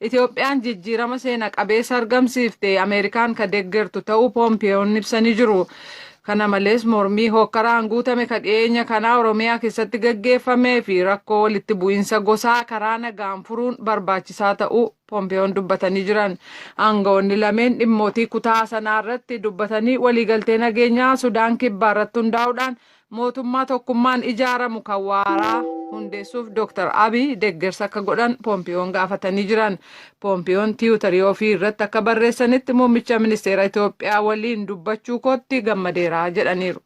Itoophiyaan jijjiirama seena qabeessa argamsiifte Ameerikaan ka deggertu ta'uu Poompiyoon ibsanii jiru. Kana malees mormii hookkaraan guutame ka dhiyeenya kanaa Oromiyaa keessatti gaggeeffamee fi rakkoo walitti bu'iinsa gosaa karaa nagaan furuun barbaachisaa ta'uu Poompiyoon dubbatanii jiran. Aangawoonni lameen dhimmootii kutaa sanaa irratti dubbatanii waliigaltee nageenyaa Sudaan Kibbaa irratti hundaa'uudhaan Mootummaa tokkummaan ijaaramu kan waaraa hundeessuuf Dr. Abiy deggersa akka godhan Poompiyoon gaafatanii jiran. Poompiyoon tiwutarii ofii irratti akka barreessanitti muummicha ministeera Itoophiyaa waliin dubbachuu kootti gammadeera jedhaniiru.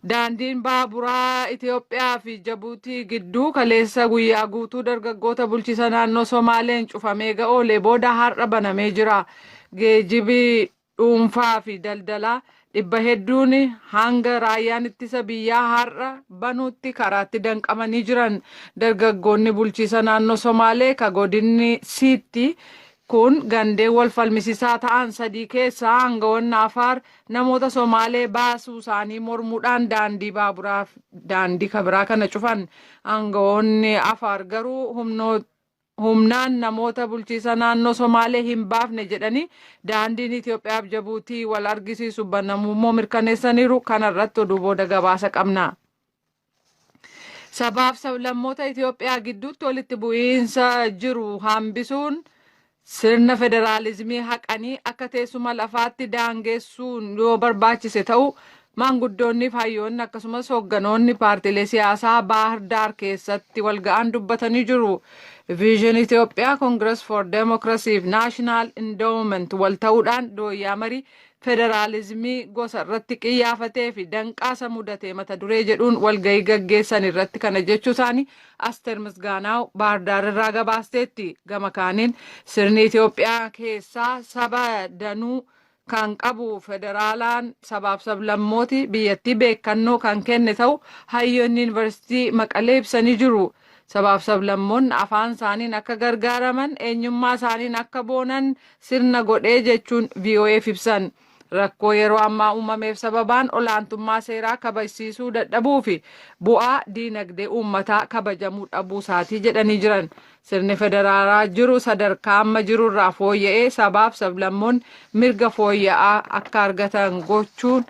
Daandiin baaburaa Itoophiyaa fi Jabuutii gidduu kaleessa guyyaa guutuu dargaggoota bulchiisa naannoo Somaaleen cufamee ga'oolee booda har'a banamee jira. Geejibi dhuunfaa fi daldalaa dhibba hedduun hanga raayyaan ittisa biyyaa har'a banuutti karaatti danqamanii jiran. Dargaggoonni bulchiisa naannoo Somaalee ka godinni Siitti kun gandeen wal falmisisaa ta'an sadii keessaa aangawoonni Afaar namoota Somaalee baasuu isaanii mormuudhaan daandii baaburaaf daandii kabiraa kana cufan. Aangawoonni Afaar garuu humnoota humnaan namoota bulchiisa naannoo Somaalee hin baafne jedhanii daandiin Itoophiyaaf Jabuutii wal argisiisu banamuu immoo mirkaneessaniiru. Kana irratti oduu booda gabaasa qabna. Sabaaf sablammoota Itoophiyaa gidduutti walitti bu'iinsa jiru hambisuun sirna federaalizimii haqanii akka teessuma lafaatti daangeessuun yoo barbaachise ta'uu Maanguddoonniif hayyoonni akkasumas hogganoonni paartiilee siyaasaa Baahir Daar keessatti walga'an dubbatanii jiru. Viizhin Itoophiyaa Kongiras for Demokirasii fi Naashinaal Indoowument wal ta'uudhaan dooyyaa marii federaalizimii gosa irratti qiyyaafatee fi danqaa isa mudatee mata duree jedhuun walga'ii gaggeessan irratti kana jechuu isaanii Asteer Misgaanaaw Baahir Daar irraa gabaasteetti. Gama kaaniin sirni Itoophiyaa keessaa saba danuu kan qabu federaalaan sabaaf sablammooti biyyattii beekannoo kan kenne ta'u hayyoonni yuunivarsiitii Maqalee ibsanii jiru. Sabaaf sablammoonni afaan isaaniin akka gargaaraman eenyummaa isaaniin akka boonan sirna godhee jechuun VOA'f ibsan. Rakkoo yeroo ammaa uumameef sababaan olaantummaa seeraa kabajsiisuu dadhabuu fi bu'aa diinagdee uummataa kabajamuu dhabuu isaatii jedhanii jiran. Sirni federaalaa jiru sadarkaa amma jirurraa fooyya'ee sabaaf sablammoonni mirga fooyya'aa akka argatan gochuun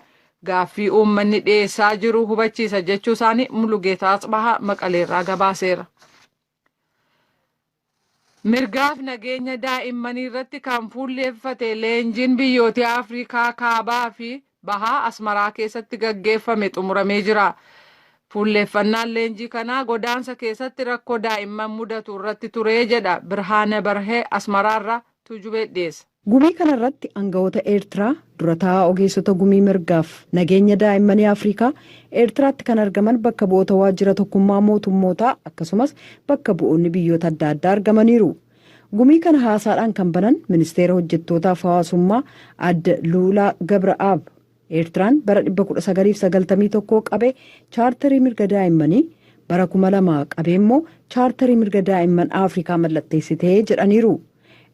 gaaffii uummanni dhiyeessaa jiru hubachiisa jechuu isaanii Mulugeetaa Atsbahaa Maqaleerraa gabaaseera. Mirgaaf nageenya daa'immanii irratti kan fuulleeffate leenjiin biyyoota Afrikaa kaabaa fi Bahaa Asmaraa keessatti gaggeeffame xumuramee jira. Fuulleeffannaan leenjii kanaa godaansa keessatti rakkoo daa'imman mudatu irratti ture jedha Birhaane Barhe Asmaraarraa Tuujubeet dhiyeessa. Gumii kana irratti angawoota Eertiraa, dura taa'aa ogeessota gumii mirgaaf nageenya daa'immanii Afrikaa, Eertiraatti kan argaman bakka bu'oota waajjira tokkummaa mootummootaa akkasumas bakka bu'oonni biyyoota adda addaa argamaniiru. Gumii kana haasaadhaan kan banan Ministeera Hojjettootaa fi Hawaasummaa Aadde Luulaa Gabra'aab, Eertiraan bara 1991 qabee Chaartarii Mirga Daa'immanii, bara 2000 qabee immoo Chaartarii Mirga Daa'imman Afrikaa mallatteessite jedhaniiru.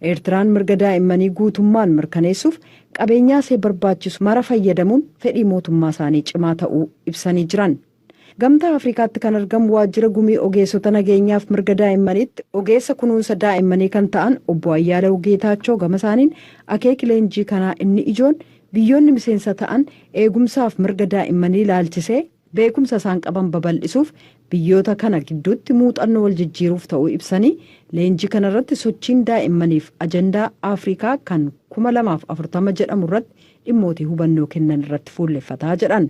Eertiraan mirga daa'immanii guutummaan mirkaneessuuf qabeenyaa isee barbaachisu mara fayyadamuun fedhii mootummaa isaanii cimaa ta'uu ibsanii jiran. Gamtaa Afrikaatti kan argamu waajjira gumii ogeessota nageenyaaf mirga daa'immaniitti ogeessa kunuunsa daa'immanii kan ta'an obbo Ayyaalew Geetaachoo gama isaaniin akeeki leenjii kanaa inni ijoon biyyoonni miseensa ta'an eegumsaaf mirga daa'immanii ilaalchisee beekumsa isaan qaban babal'isuuf biyyoota kana gidduutti muuxannoo wal jijjiiruuf ta'uu ibsanii leenjii kanarratti sochiin daa'immaniif ajandaa Afrikaa kan 2040 jedhamu irratti dhimmootii hubannoo kennan irratti fuulleffataa jedhan.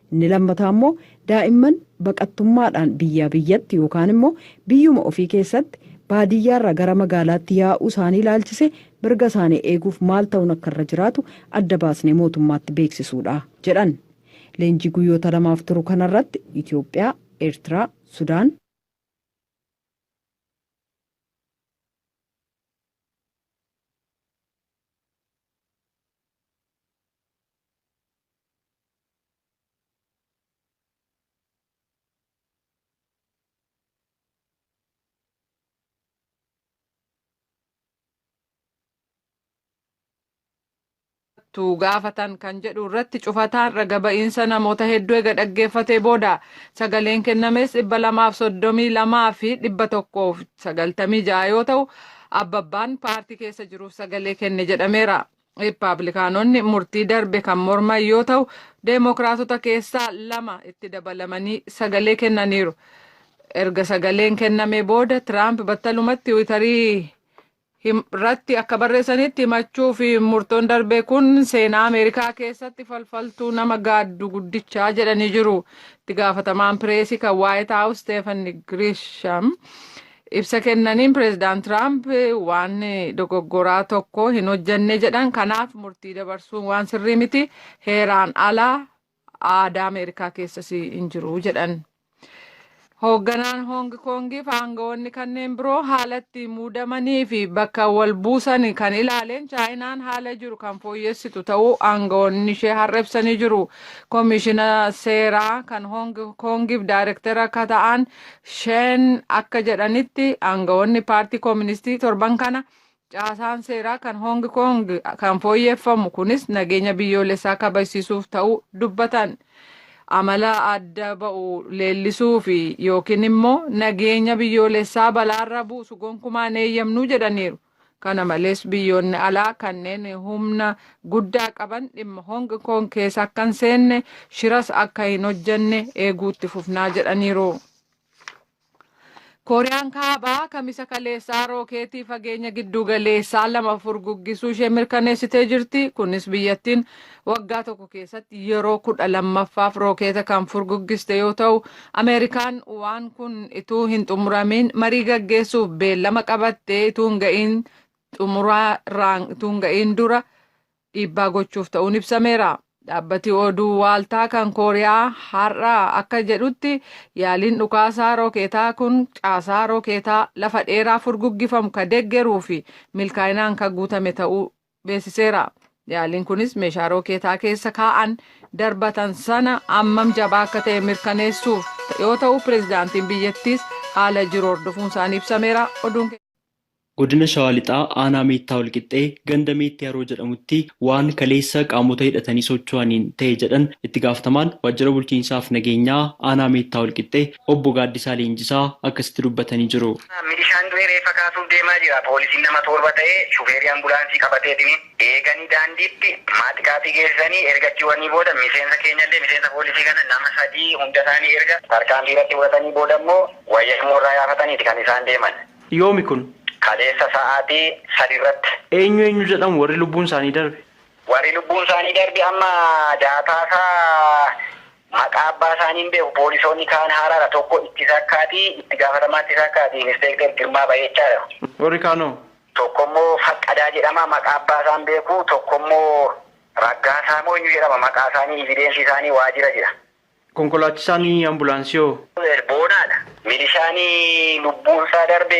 Inni lammataa immoo daa'imman baqattummaadhaan biyyaa biyyatti yookaan immoo biyyuma ofii keessatti baadiyyaarraa gara magaalaatti yaa'uu isaanii ilaalchisee mirga isaanii eeguuf maal ta'uun akka irra jiraatu adda baasnee mootummaatti beeksisuudha, jedhan. Leenjii guyyoota lamaaf turu kanarratti Itoophiyaa, Eertiraa, Sudaan. tu gaafatan kan jedhu irratti cufataan raga ba'iinsa namoota hedduu ega dhaggeeffatee booda sagaleen kennames dhibba lamaaf soddomii lamaa fi dhibba tokkoof sagaltamii ja'a yoo ta'u abbabbaan paartii keessa jiruuf sagalee kenne jedhameera. Rippaablikaanonni murtii darbe kan morman yoo ta'u, Deemokiraatota keessaa lama itti dabalamanii sagalee kennaniiru. Erga sagaleen kenname booda Tiraamp battalumatti Tiwiitarii irratti akka barreessanitti himachuu fi murtoon darbe kun seenaa Ameerikaa keessatti falfaltuu nama gaaddu guddichaa jedhanii jiru. Itti gaafatamaan pireesii kan Waayit Haawus Steefan Giriisham Ibsa kennaniin pireezidaant Tiraamp waan dogoggoraa tokko hin hojjenne jedhan kanaaf murtii dabarsuun waan sirrii miti heeraan alaa aadaa Ameerikaa keessas hin jiru jedhan. Hoogganaan Hoong Koongii fi aangawoonni kanneen biroo haala itti muudamanii fi bakka wal buusan kan ilaaleen Chaayinaan haala jiru kan fooyyessitu ta'uu aangawoonni ishee har'a ibsanii jiru. Koomishina seeraa kan Hoong Koongiif daayirektara akka ta'an Sheen akka jedhanitti aangawoonni paartii kooministii torban kana caasaan seeraa kan Hoong Koong kan fooyyeffamu kunis nageenya biyyoolessaa kabajsiisuuf ta'uu dubbatan. Amala adda ba'u leellisuu fi yookiin immoo nageenya biyyoolessaa balaarra buusu gonkumaa hin eeyyamnu jedhaniiru. Kana malees biyyoonni alaa kanneen humna guddaa qaban dhimma Hong Kong keessa akka hin seenne shiras akka hin hojjenne eeguu itti fufnaa jedhaniiru. Kooriyaan Kaabaa kamisa kaleessaa rookeetii fageenya giddugaleessaa lama furguggisuu ishee mirkaneessitee jirti. Kunis biyyattiin Waggaa tokko keessatti yeroo kudha lammaffaaf rookeeta kan furguggiste yoo ta'u, Ameerikaan waan kun ituu hin xumuramiin marii gaggeessuuf beellama qabattee ituu hin ga'iin xumuraa irraan ituu hin ga'iin dura dhiibbaa gochuuf ta'uun ibsameera. Dhaabbati oduu waaltaa kan Kooriyaa har'a akka jedhutti yaaliin dhukaasaa rookeetaa kun caasaa rookeetaa lafa dheeraa furguggifamu ka deggeruu fi milkaa'inaan ka guutame ta'uu beeksiseera. Yaaliin kunis meeshaa rookeetaa keessa kaa'an darbatan sana ammam jabaa akka ta'e mirkaneessuuf yoo ta'u pireezidaantiin biyyattiis haala jiru hordofuun isaanii ibsameera. Oduun Godina Shawaa Lixaa aanaa Meettaa Walqixxee ganda Meetti Haroo jedhamutti waan kaleessa qaamota hidhatanii socho'aniin ta'e jedhan itti gaafatamaan waajjira bulchiinsaa fi nageenyaa aanaa Meettaa Walqixxee Obbo Gaaddisaa Leenjisaa akkasitti dubbatanii jiru. Milishaan du'e reeffa kaasuuf deemaa jira. Poolisiin nama toorba ta'e shufeerii ambulaansii qabateetini eeganii daandiitti maaxiqaaxii geesisanii erga achi wanii booda miseensa keenyallee miseensa poolisii kana nama sadii hunda isaanii erga tarkaanfii irratti fudhatanii booda immoo wayyaa moorraa yaafataniiti kan isaan deeman. Yoomi kun? Kaleessa sa'aatii sadi irratti. Eenyu eenyu jedhamu warri lubbuun isaanii darbe? Warri lubbuun isaanii darbe amma daataasaa Maqaa abbaa isaanii hin beeku. Poolisoonni kaan haaraadha. Tokko ittisa akkaati, itti gaafatamaa ittisa akkaati, Inspeekter Girmaa Bayeechaa jedhama. Warri kaan hoo? Tokko immoo Faqqadaa jedhama. Maqaa abbaa isaa hin beeku. Tokko immoo Raggaasaa moo eenyu jedhama. Maqaa isaanii, ivideensii isaanii waajira jira. Konkolaachisaan ambulaansii hoo? Boonaadha. Milishaan lubbuun isaa darbe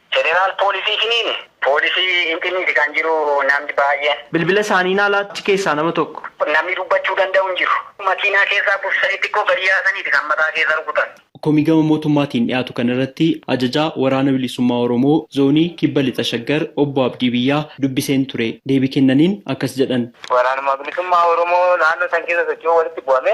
Federal police isiniin. Police hin dhimmiiti kan jiru namni baay'een. Bilbila isaanii naa laatti keessaa nama tokko. Namni dubbachuu danda'u hin jiru. Makiinaa keessaa buusisanii xiqqoo gadi yaasaniiti kan mataa keessa rukutan. Komii gama mootummaatiin dhiyaatu kana irratti Ajajaa Waraana Bilisummaa Oromoo Zoonii Kibba Lixa Shaggar Obbo Abdii Biyyaa dubbiseen ture. Deebii kennaniin akkas jedhan. Waraanuma Bilisummaa Oromoo naannoo san keessa socho'u walitti bu'ame.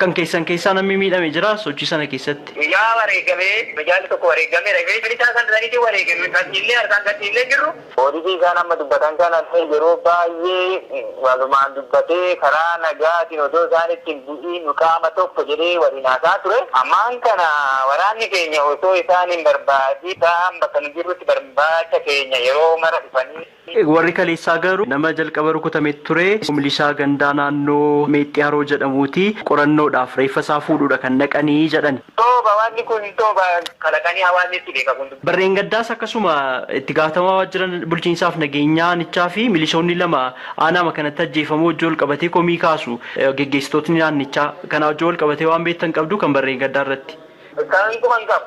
Kan keessan keessaa nammi miidhame jiraa sochii sana keessatti? Guyyaa wareegame mijaalli tokko wareegameera. Ifee bilisaa kan saniitiin wareegame kan dhiillee harkaan gad dhiillee hin jirru. Poolisii isaan amma dubbatan kanallee yeroo baayyee walumaan dubbatee karaa nagaatiin odoo isaan itti hin bu'iin nu qaama tokko jedhee waliin haasa'aa ture. Ammaan kana waraanni keenya osoo isaan hin barbaadiin isaan bakka nu jirrutti barbaacha keenya yeroo mara dhufanii. Warri kaleessaa garuu nama jalqaba rukutame ture milishaa gandaa naannoo Meexxii Haroo jedhamuuti. Qorannoodhaaf reeffa isaa fuudhuudha kan dhaqani jedhani. Soba waanni kun soba kalaqanii hawaasni itti beeka kun. Bara dheengaddaas akkasuma itti gaafatamaa waajjira bulchiinsaaf nageenyaa aanichaa fi milishoonni lama aanaama kanatti ajjeefamuu wajjin walqabatee komii kaasu geggeessitootni naannichaa. Kanaa wajjin walqabatee waan beektan qabduu kan bara dheengaddaa irratti? Kan quba hin qabu.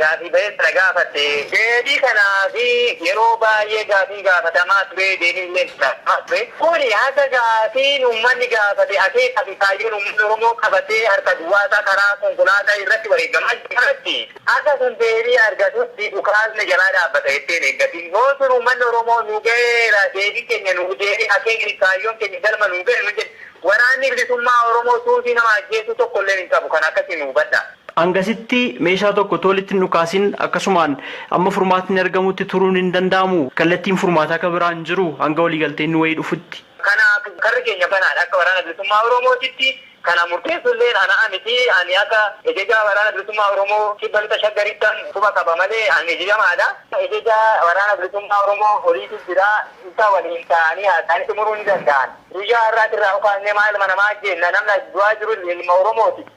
Gaafii ba'ee sana gaafatte. Deebii kanaaf yeroo baay'ee gaafiin gaafatamaa ture, deebiin illee itti laatamaa ture. Kuni haga gaafiin uummanni gaafate akeekaa fi kaayyoon uummanni Oromoo qabatee harka duwwaa isaa karaa konkolaataa irratti wareegamaa jiru kanatti haga sun deebii argatutti dhukaasni jalaa dhaabbata jettee hin eeggatin. Yoo sun uummanni Oromoo nu gaheera, deebiin keenya nuuf deebi'e, akeekni fi kaayyoon keenya galma nuu gahe nu jedhe, Waraanni Bilisummaa Oromoo suusii nama ajjeesuu tokko illee hin qabu. Kana akkasiin nu hubadhaa. Hangasitti meeshaa tokko utuu walitti hin dhukaasin akkasumaan amma furmaatni argamutti turuun hin danda'amu. Kallattiin furmaataa ka biraa hin jiru hanga waliigalteen wayii dhufutti. Kanaaf karri keenya banaadha. Akka Waraana Bilisummaa Oromootitti kana murteessulleen anaa miti. Ani akka Ejejaa Waraana Bilisummaa Oromoo Kibba Lixa Shaggarittan quba qaba malee an ejejamaadha. Ejejaa Waraana Bilisummaa Oromoo oliitu jira. Isa waliin taa'anii haasa'anii xumuruu ni danda'an. Guyyaa har'aatirraa kaasnee maaluma namaa jenna? Namni as du'aa jiru ilma Oromooti.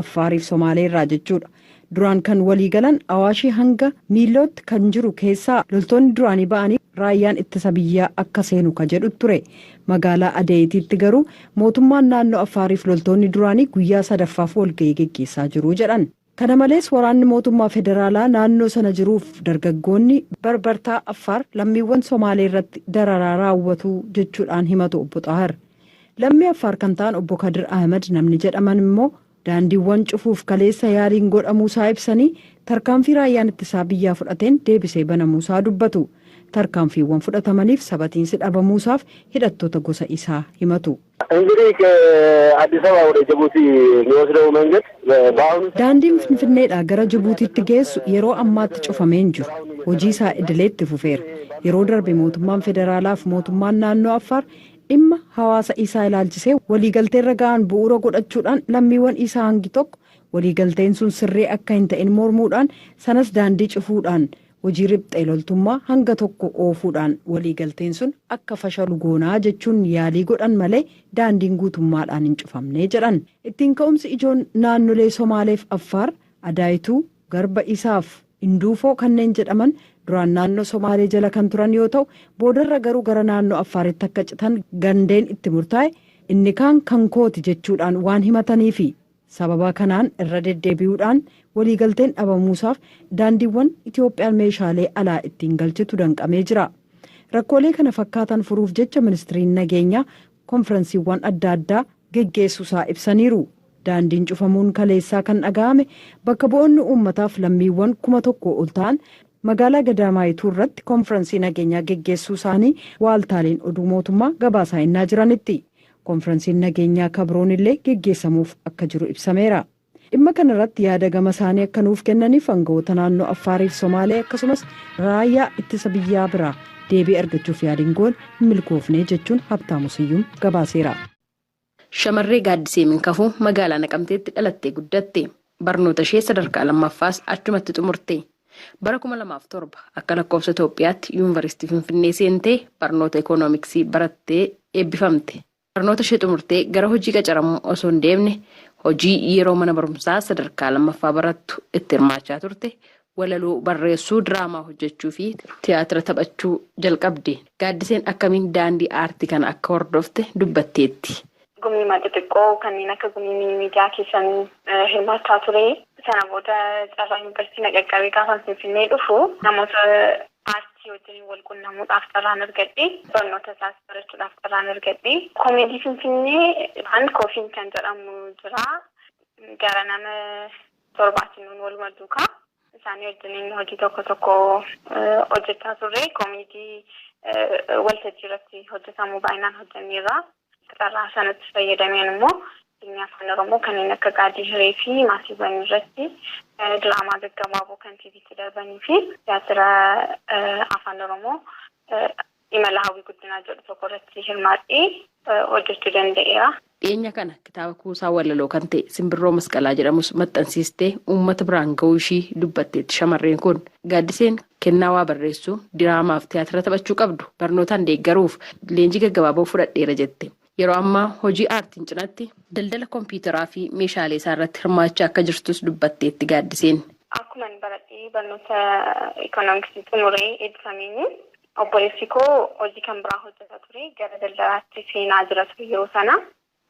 Affaariif Somaalee irraa jechuudha. Duraan kan walii galan Awaashii hanga Miillootti kan jiru keessaa loltoonni duraanii ba'anii raayyaan ittisa biyyaa akka seenu ka jedhu ture. Magaalaa Adeeyitiitti garuu mootummaan naannoo Affaariif loltoonni duraanii guyyaa sadaffaaf walga'ii geggeessaa jiru jedhan. Kana malees waraanni mootummaa federaalaa naannoo sana jiruuf dargaggoonni barbartaa Affaar lammiiwwan Somaalee irratti dararaa raawwatu jechuudhaan himatu Obbo Xaahir. Lammii Affaar kan ta'an Obbo Kadir Ahimad namni jedhaman immoo daandiiwwan cufuuf kaleessa yaaliin godhamuusaa ibsanii, tarkaanfii raayyaan ittisaa biyyaa fudhateen deebisee banamuusaa dubbatu. Tarkaanfiiwwan fudhatamaniif sabatiinsi dhabamuusaaf hidhattoota gosa isaa himatu. Daandiin Finfinneedhaa gara Jibuutiitti geessu yeroo ammaatti cufamee hin jiru. Hojii isaa idilee itti fufeera. Yeroo darbe mootummaan federaalaaf mootummaan naannoo Affaar Dhimma hawaasa Iisaa ilaalchisee waliigalteerra ga'an bu'uura godhachuudhaan lammiiwwan Iisaa hangi tokko waliigalteen sun sirrii akka hin ta'in mormuudhaan, sanas daandii cufuudhaan, hojii riphxee loltummaa hanga tokko oofuudhaan waliigalteen sun akka fashalu goonaa jechuun yaalii godhan malee daandiin guutummaadhaan hin cufamne jedhan. Ittiin ka'umsi ijoon naannolee Somaaleef Affaar, Adaayituu, Garba Isaaf Induufoo kanneen jedhaman duraan naannoo Somaalee jala kan turan yoo ta'u, boodarra garuu gara naannoo Affaaritti akka citan gandeen itti murtaa'e inni kaan kan kooti jechuudhaan waan himataniifi. Sababa kanaan irra deddeebi'uudhaan waliigalteen dhabamuusaaf daandiiwwan Itoophiyaan meeshaalee alaa ittiin galchitu danqamee jira. Rakkoolee kana fakkaatan furuuf jecha Ministriin Nageenyaa konfiransiiwwan adda addaa geggeessuusaa ibsaniiru. Daandiin cufamuun kaleessaa kan dhaga'ame bakka bu'oonni uummataaf lammiiwwan kuma tokkoo ol ta'an magaalaa Gadaamaayituu irratti konfiransii nageenyaa geggeessuu isaanii waaltaaleen oduu mootummaa gabaasaa ennaa jiranitti. Konfiransiin nageenyaa ka biroon illee geggeessamuuf akka jiru ibsameera. Dhimma kana irratti yaada gama isaanii akka nuuf kennaniif angawoota naannoo Affaarii fi Somaalee akkasumas Raayyaa Ittisa Biyyaa biraa deebii argachuuf yaaliin goone hin milkoofne jechuun Habtaamu Siyyum gabaaseera. Shamarree Gaaddisee Minkafuu magaalaa Naqamteetti dhalattee guddatte. Barnootashee sadarkaa lammaffaas achumatti xumurte. Bara kuma lamaa fi torba akka lakkoofsa Itoophiyaatti Yuunvaristii Finfinnee seentee barnoota Ikoonomiksii barattee eebbifamte. Barnootashee xumurtee gara hojii qacaramuu osoo hin deemne hojii yeroo mana barumsaa sadarkaa lammaffaa barattu itti hirmaachaa turte Walaloo barreessuu, diraamaa hojjechuufi tiyaatira taphachuu jalqabde. Gaaddiseen akkamiin daandii aartii kana akka hordofte dubbatteetti. Gumiiwwan xixiqqoo kanneen akka gumii miidiyaa keessan hirmaachaa ture. Sana booda carraa yunivarsiitii na qaqqabe. Gaafan Finfinnee dhufu namoota aartii wajjiniin wal qunnamuudhaaf carraan argadhe. Barnoota isaas barachuudhaaf carraan argadhe. Komeedii Finfinnee waan Koofiin kan jedhamu jira. Gara nama 7ti nuun waluma duukaa isaanii wajjiniin hojii tokko tokko hojjechaa turre. Komiitii waltajjii irratti hojjetamu baay'inaan hojjenneerra. Carraa sanatti fayyadameen immoo fiilmii Afaan Oromoo kanneen akka Gaadii Hiree fi Maatiiwwan irratti diraamaa gaggabaaboo kan TVtti darbanii fi tiyaatira Afaan Oromoo Imala Hawwii Guddinaa jedhu tokko irratti hirmaadhee hojjechuu danda'eera. Dhiyeenya kana kitaaba kuusaa walaloo kan ta'e Simbirroo Masqalaa jedhamus maxxansiistee uummata biraan ga'uu ishii dubbatteetti shamarreen kun. Gaaddiseen kennaa waa barreessuu, diraamaaf tiyaatira taphachuu qabdu barnootaan deeggaruuf leenjii gaggabaaboo fudhadheera jette. Yeroo ammaa hojii aartiin cinatti daldala kompiitaraa fi meeshaalee isaa irratti hirmaachaa akka jirtus dubbatteetti Gaaddiseen. Akkuman baradhee barnoota Ikoonomiksii xumuree eebbifameenis Obboleessi koo hojii kan biraa hojjeta ture. Gara daldalaatti seenaa jira ture yeroo sana.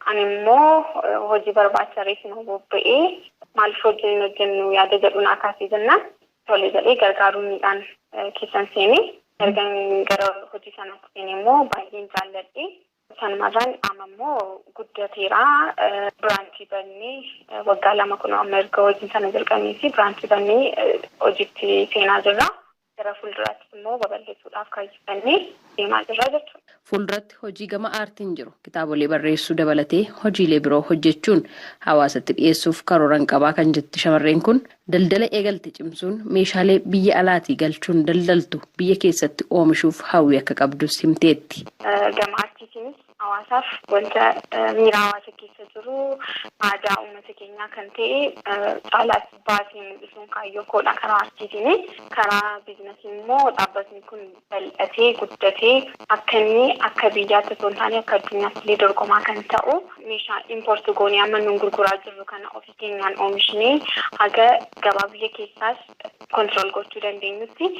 Ani immoo hojii barbaacha reefuma bobba'ee maaliif hojii hin hojjennu yaada jedhu naa kaasee jennaan tole jedhee gargaaruudhaan keessan seene. Ergan gara hojii sanaatti seene immoo baay'een jaalladhe. Sanumarraan amma immoo guddateera. Biraanchii bannee waggaa lama kunoo amma erga hojii sana jalqabnee fi biraanchii bannee hojiitti seenaa jirra. gara fuulduraattis immoo babal'isuudhaaf kaayyeffannee deemaa jirra jechuudha. Fuulduratti hojii gama aartiin jiru kitaabolee barreessuu dabalatee hojiilee biroo hojjechuun hawaasatti dhiyeessuuf karooran qabaa kan jetti shamarreen kun, daldala eegalte cimsuun meeshaalee biyya alaatii galchuun daldaltu biyya keessatti oomishuuf hawwii akka qabdus himteetti. Gama aartiitiinis Hawaasaaf wanta miira hawaasa keessa jiru, aadaa uummata keenyaa kan ta'e caalaatti baasee mul'isuun kaayyoo koodha karaa artiitiini. Karaa biiznasiin immoo dhaabbatni kun bal'atee, guddatee akka inni akka biyyaatti osoo hin taane akka addunyaatti illee dorgomaa kan ta'u meeshaa import goonee amma nuun gurguraa jirru kana ofii keenyaan oomishnee haga gabaa biyya keessaas control gochuu dandeenyutti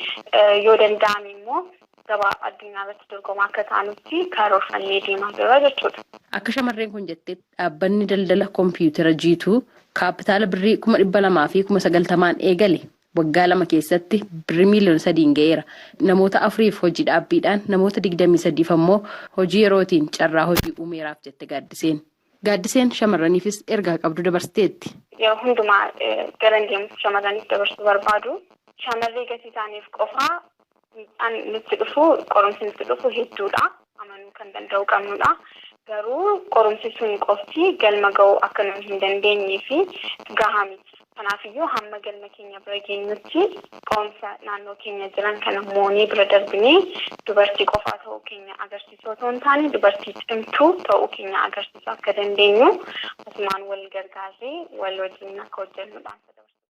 yoo danda'ame immoo gabaa addunyaa irratti dorgomaa akka taanutti karoorfannee deemaa jirra jechuudha. Akka shamarreen kun jetteetti dhaabbanni daldala kompiitera jiituu kaappitaala birrii kuma dhibba lamaa fi kuma sagaltamaan eegale waggaa lama keessatti birrii miiliyoona sadiin ga'eera. Namoota afuriif hojii dhaabbiidhaan namoota digdamii sadiif ammoo hojii yerootiin carraa hojii uumeeraaf jette Gaaddiseen. Gaaddiseen shamarraniifis ergaa qabdu dabarsiteetti. Yeroo hundumaa garan deemutti shamarraniif dabarsuu barbaadu shamarree gatii taaneef qofa miidhaan nutti dhufu, qorumsi nutti dhufu hedduudha. Amanuu kan danda'uu qabnudha. Garuu qorumsi sun qofti galma ga'uu akka nuyi hin dandeenyee fi gahaa miti. Kanaafiyyuu hamma galma keenya bira geenyutti qorumsa naannoo keenya jiran kana moonee bira darbinee dubartii qofaa ta'uu keenya agarsiisuu otoo hin taane dubartii cimtuu ta'uu keenya agarsiisuu akka dandeenyu asumaan wal gargaarree wal wajjiniin akka hojjennu dhaamsa dabarsuu barbaada.